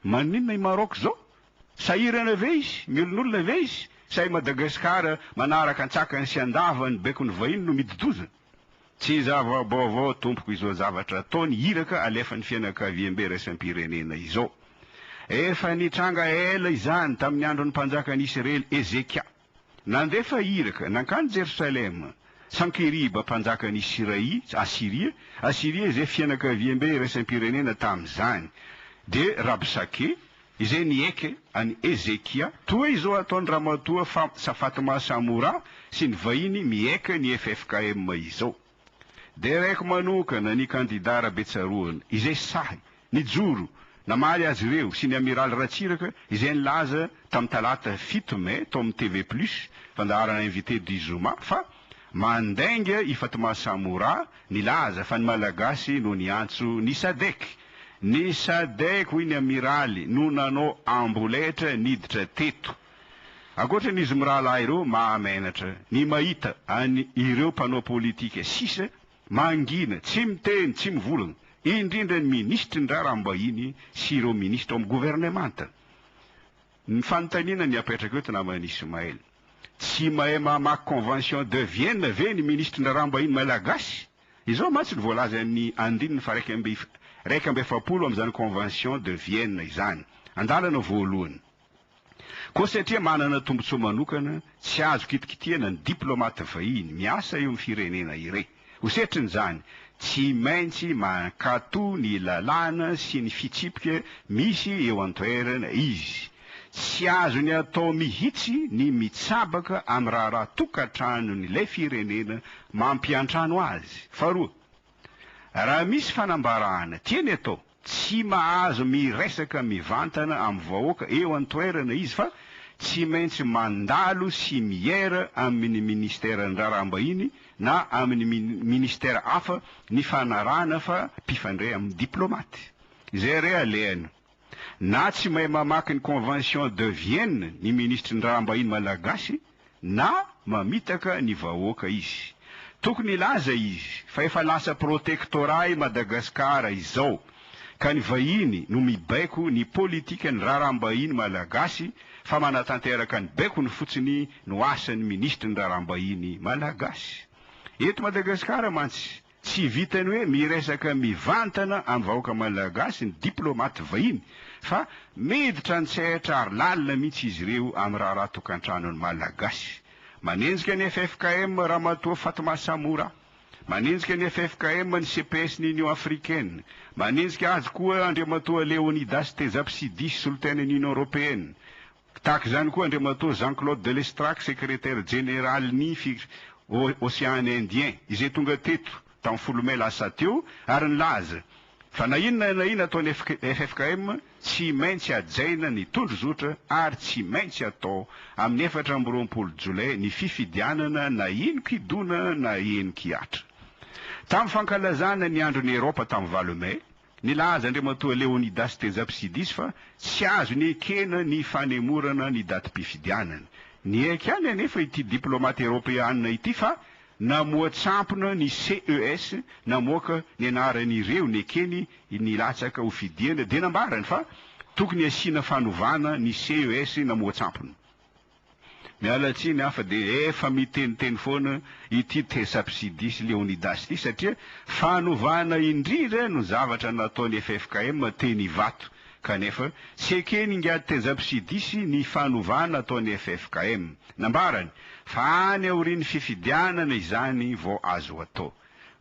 Maninona i Maroc izao? Sahirana ve izy? Miolinolina ve izy? Sa i Madagascar manaraka an-tsakany sy an-davany ny baikon'ny vahiny no midi-doza? Tsy zava-baovao tompoko izao zavatra ataony iraka alefan'ny fianakaviambe iraisam-pirenena izao. Efa nitranga ela izany tamin'ny andron'ny mpanjakan'i Isrely Ezekia. Nandefa iraka nankany Jerosalema Sankeriba mpanjakan' i Siraï, Asyria, Asyria izay fianakaviambe iraisam-pirenena tamin' izany, dia Rabsake, izay niaiky an' i Hezekia, toa izao ataon' Ramatoa Safat-Mahasamora sy ny vahiny miaiky an' i FFKM izao. Derek manokana ny kandidà Rabetsaroana izay sahy nijoro namaly azy ireo sy ny Amiraly Ratsiraka izay nilaza tamin'ny talata fito mey tao amin'ny TV Plus, fandaharana Invité du Zoma, fa mandainga i Fatma Samoura nilaza fa ny Malagasy no niantso ny Sadec. Ny Sadec, hoy ny Amiraly, no nanao amboletra niditra teto. Ankoatra ny izy mirahalahy ireo, mahamenatra ny mahita an ireo mpanao politika sisa mangina, tsy miteny, tsy mivolagna, indrindra ny minisitry ny raharaham-bahiny sy ireo minisitra ao amin'ny governemanta. Ny fanontaniana ny apetrako eto naman'i Ismail, tsy mahay mamaky convention de Vienne ve ny minisitry ny raharaham-bahiny malagasy? Izao mantsy ny voalaza amin'ny andininy faharaika amby iraika amby efapolo amin'izany convention de Vienne izany, andalana voalohany. Koa satria manana tombontsoa manokana, tsy azo kitikitihana ny diplaomaty vahiny miasa eo amin'ny firenena iray. Ho setrin'izany, tsy maintsy mankatò ny lalàna sy ny fitsipika misy eo an-toerana izy. Tsy azony atao mihitsy ny mitsabaka amin'ny raharaha tokantranon'ilay firenena mampiantrano azy. Faharoa, raha misy fanambarana tiany atao, Tsy mahazo miresaka mivantana amin'ny vahoaka eo an-toerana izy fa tsy maintsy mandalo sy miera amin'ny Ministeran'ny Raharaham-bahiny na amin'ny Ministera hafa nifanarahana fa mpifandray amin'ny diplomaty. Izay re alehany. Na tsy mahay mamaky ny Convention de Vienne ny Minisitry ny Raharaham-bahiny malagasy, na mamitaka ny vahoaka izy. Tokony hilaza izy fa efa lasa protectorat i Madagasikara izao ka ny vahiny no mibaiko ny politikan'ny raharaham-bahiny malagasy fa manatanteraka ny baikony fotsiny no asan'ny minisitry ny raharaham-bahiny malagasy. Eto Madagasikara mantsy, Tsy vitan'ny hoe miresaka mivantana amin'ny vahoaka malagasy ny diplaomaty vahiny fa miditra an-tsehatra ary lalina mihitsy izy ireo amin'ny raharaha tokantranon'ny Malagasy. Manenjika ny ffkm Ramatoa Fatma Samoura. Manenjika ny ffkm ny CPS ny Union Africaine. Manenjika azy koa Andriamatoa Leonidas Tejapsidi, Solontena ny Union Européenne. Tahaka izany koa Andriamatoa Jean Claude de Lestrac, Sekretera Jeneralin'ny Ocean Indien, izay tonga teto tamin'ny folo mey lasa teo ary nilaza fa na inona na inona ataon'ny ffkm, tsy maintsy hajaina ny tondrozotra ary tsy maintsy atao amin'ny efatra amby roapolo jolay ny fifidianana na henon-kidona na henon-kihatra. Tamin'ny fankalazana ny andron'i Eropa tamin'ny valo mey, Nilaza Andriamatoa Leonidas Tejapsidis fa tsy azony ekena ny fanemorana ny datim-pifidianana. Niaiky ihany anefa ity diplaomata Eropeana ity fa namoha tsampona ny CES namoaka ny anaran'ireo nekeny nilatsaka ho fidiana dia nambarany fa tokony hasiana fanovana ny CES namoha tsampona. Miala tsiny aho fa dia efa miteniteny foana ity Tesapsidi sy Leonidas ity satria fanovana indrindra no zavatra nataon'ny ffkm teny Ivato kanefa tsy eken'ny ingahy Tezapsidis ny fanovana ataon'ny ffkm. Nambarany fa any aorian'ny fifidianana izany vao azo atao.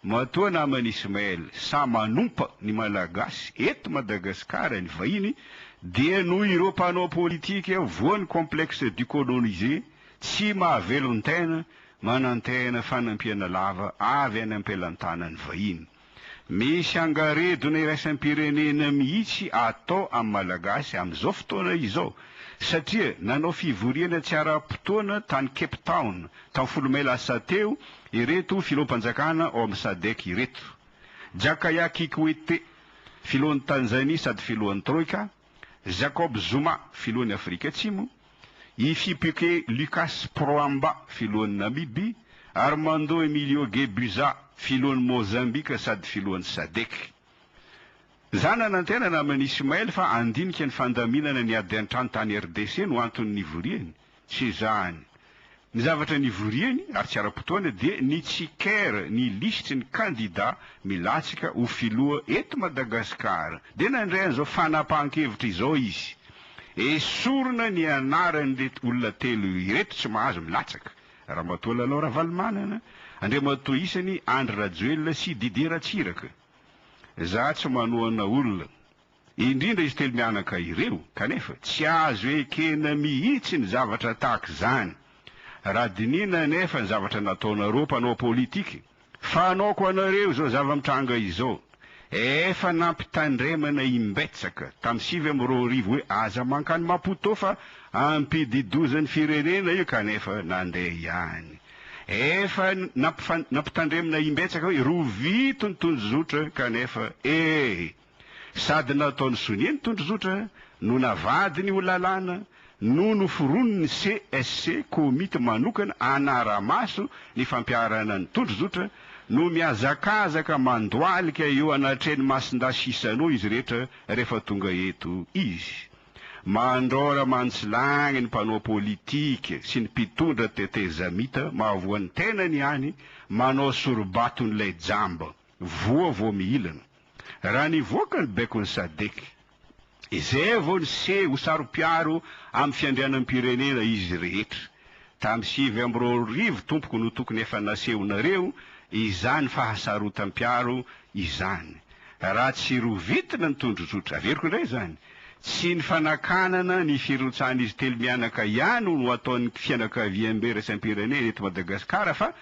Matoa naman'i Ismaël sahy manompa ny Malagasy eto Madagasikara ny vahiny dia noho ireo mpanao politika voan'ny complexe du colonisé tsy mahavelon-tena manantena fanampiana lava avy any am-pelantanan'ny vahiny. Misy angaredona iraisam-pirenena mihitsy atao amin'ny Malagasy amin'izao fotoana izao satria nanao fivoriana tsy ara-potoana tany Cape Town taovolo may lasa teo ireto filoham-panjakana ao amin'ny Sadec ireto, Jakaya Kikwete, filohan'i Tanzania sady filohan'ny Troika, Jacob Zuma, filohan'i Afrika Atsimo, Hifipike Lucas Prohamba, filohan'i Namibia, Armando Emilio Gebuza, filohan'i Mozambika sady filohan'ny Sadec. Za nanantenana amin'i Ismael fa handinika ny fandaminana ny ady an-trano tany RDC no anton'ny nivoriany. Tsy izany. Ny zavatra nivoriany, ary tsy ara-potoana, dia ny tsiker, ny lisitry ny kandida milatsaka ho filoha eto Madagasikara. Dia nandray an'izao fanapahan-kevitra izao izy, Esorina ny anaran'ireto olona telo ireto tsy mahazo milatsaka, Ramatoa Lalao Ravalomanana, Andriamatoa isany Andry Rajoelina sy Didier Ratsiraka. Za tsy manohana olona. indrindra izy telo mianaka ireo, kanefa tsy azo ekena mihitsy ny zavatra tahaka izany, raha dinihina anefa ny zavatra nataonareo mpanao politika, fanaoko anareo izao zava-mitranga izao, efa nampitandremana imbetsaka tamin'ny sivy amby roa arivo hoe aza mankany Maputo fa ampidi-dozan'ny firenena io kanefa nandeha ihany, efa nampitandremina imbetsaka hoe rovito ny tondrozotra kanefa ee. Sady nataony sonia ny tondrozotra no navadiny ho lalàna no noforonin'ny CSC, komity manokana hanara-maso ny fampiharana ny tondrozotra, no mihazakazaka mandohalika eo anatrehan'i Masindahy Chissano izy rehetra rehefa tonga eto izy. Mandraora mantsilagny ny mpanao politika sy ny mpitondra tetezamita mahavoa ny tenany ihany manao soribaton'ilay jamba, voa vao mihilana. Raha nivoaka ny baikon'ny Sadc, izay vao niseho ho saro-piaro amin'ny fiandrianam-pirenena izy rehetra. Tamin'ny sivy amby roa arivo tompoko no tokony efa nasehonareo izany fahasarotam-piaro izany. Raha tsy rovitina ny tondrozotra, averiko indray izany, Tsy ny fanakanana ny firotsahan'izy telo mianaka ihany no ataon'ny fianakaviambe iraisam-pirenena eto Madagasikara fa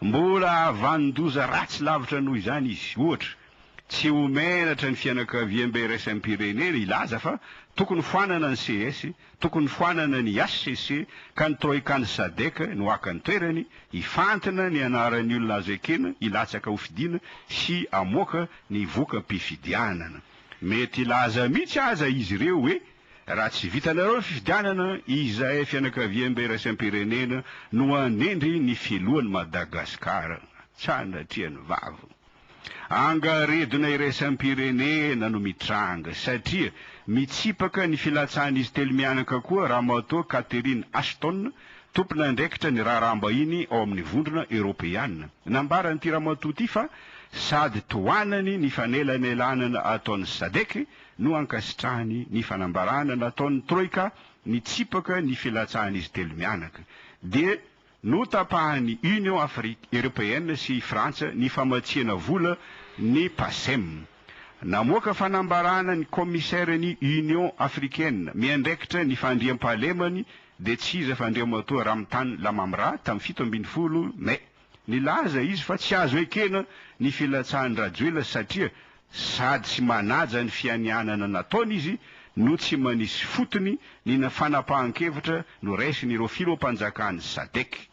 mbola havanon-doza ratsy lavitra noho izany izy. Ohatra, tsy ho menatra ny fianakaviambe iraisam-pirenena hilaza fa tokony foanana ny ces, tokony foanana ny HCC ka ny Troikan'ny Sadec no haka ny toerany, hifantina ny anaran'ny olona azo ekena hilatsaka hofidiana sy hamoaka ny voka-pifidianana. Mety hilaza mihitsy aza izy ireo hoe, raha tsy vitanareo ny fifidianana, izahay fianakaviambe iraisampirenena no hanendry ny filohan'i Madagasikara. Sanatrian'ny vavy. Angaredona iraisampirenena no mitranga, satria mitsipaka ny filatsahan'izy telo mianaka koa Ramatoa Catherine Ashton, Tompon'andraikitra ny raharaham-bahiny ao amin'ny Vondrona Eoropeana, nambaran'ity ramatoa ity fa sady tohanany ny fanelanelanana ataon'ny Sadc no ankasitrahany ny fanambarana nataon'ny Troika nitsipaka ny filatsahan'izy telo mianaka dia notapahan'ny Union Afri Eoropeana sy i Frantsa ny famatsiana vola ny PACEM. Namoaka fanambarana ny Kaomisaira ny Union Africaine miandraikitra ny fandriampahalemany dia tsy iza fa Andriamatoa Ramitany Lamamra tamin'ny fito ambin'ny folo Mai. Nilaza izy fa tsy azo ekena ny filatsahan-dRajoelina satria sady tsy manaja ny fianianana nataony izy no tsy manisy fotony ny fanapahan-kevitra noraisin'ireo filoham-panjakan'ny Sadec.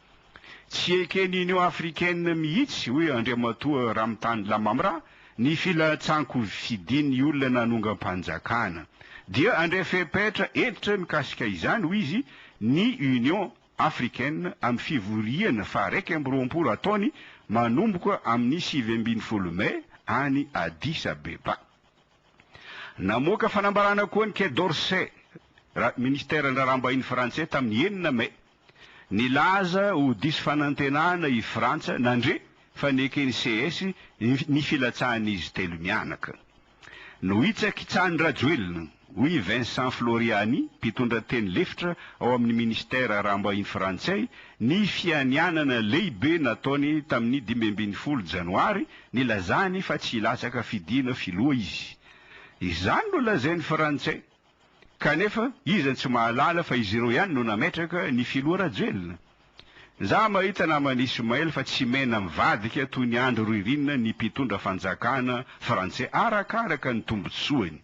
Tsy eken'ny Union africaine mihitsy, hoy Andriamatoa Ramitany Lamamra, ny filatsan-kofidin'ny olona nanongam-panjakana. Dia handray fepetra hentitra mikasika izany, hoy izy, ny Union africaine amin'ny fivoriana faha-iraika amby roapolo ataony manomboka amin'ny sivy ambin'ny folo mey any Addis Abeba. Namoaka fanambarana koa ny Quai d'Orsay, ra, Ministeran'ny Raharaham-bahiny frantsay tamin'ny enina mey. Nilaza ho diso fanantenana i Frantsa nandre fa neken'ny ces ny filatsahan'izy telo mianaka. Nohitsakitsahan'i Rajoelina, hoy i Vincent Floriani, mpitondra teny lefitra ao amin'ny Minisitera Araham-bahiny Frantsay, ny fianianana lehibe nataony tamin'ny dimy ambin'ny folo Janoary, nilazany fa tsy hilatsaka fidina filoha izy. Izany no lazain'ny Frantsay Kanefa iza no tsy mahalala fa izy ireo ihany no nametraka ny filoha Rajoelina? Za mahita naman'i Ismaël fa tsy mena mivadika toy ny andro ririnina ny mpitondra fanjakana frantsay arakaraka ny tombotsoany.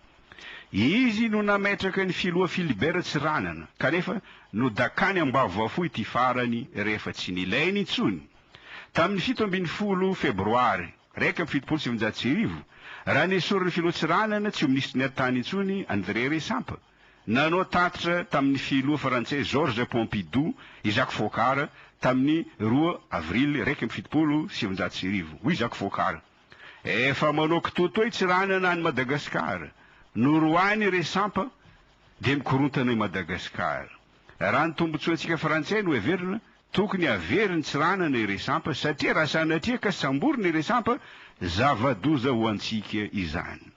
Izy no nametraka ny filoha Philibert Tsiranana kanefa nodakany ambavafo ity farany rehefa tsy nilainy intsony tamin'ny fito ambin'ny folo febroary. iraika amby fitopolo sy sivinjato sy arivo, raha nesorin'ny Filoha Tsiranana, tsy ho minisitry ny haritany intsony, André Resampa, nanao tatitra tamin'ny Filoha Frantsay Georges Pompidou i Jacques Foccart tamin'ny roa avrily iraika amby fitopolo sy sivinjato sy arivo. Hoy Jacques Foccart, Efa manao kitoatoa i Tsiranana any Madagasikara. Noroahiny i Resampa, dia mikorontana i Madagasikara. Raha ny tombontsoantsika Frantsay no heverina, Tokony havery ny tsiranana i Resampa satria raha sanatria ka samborina i Resampa, zava-doza ho antsika izany.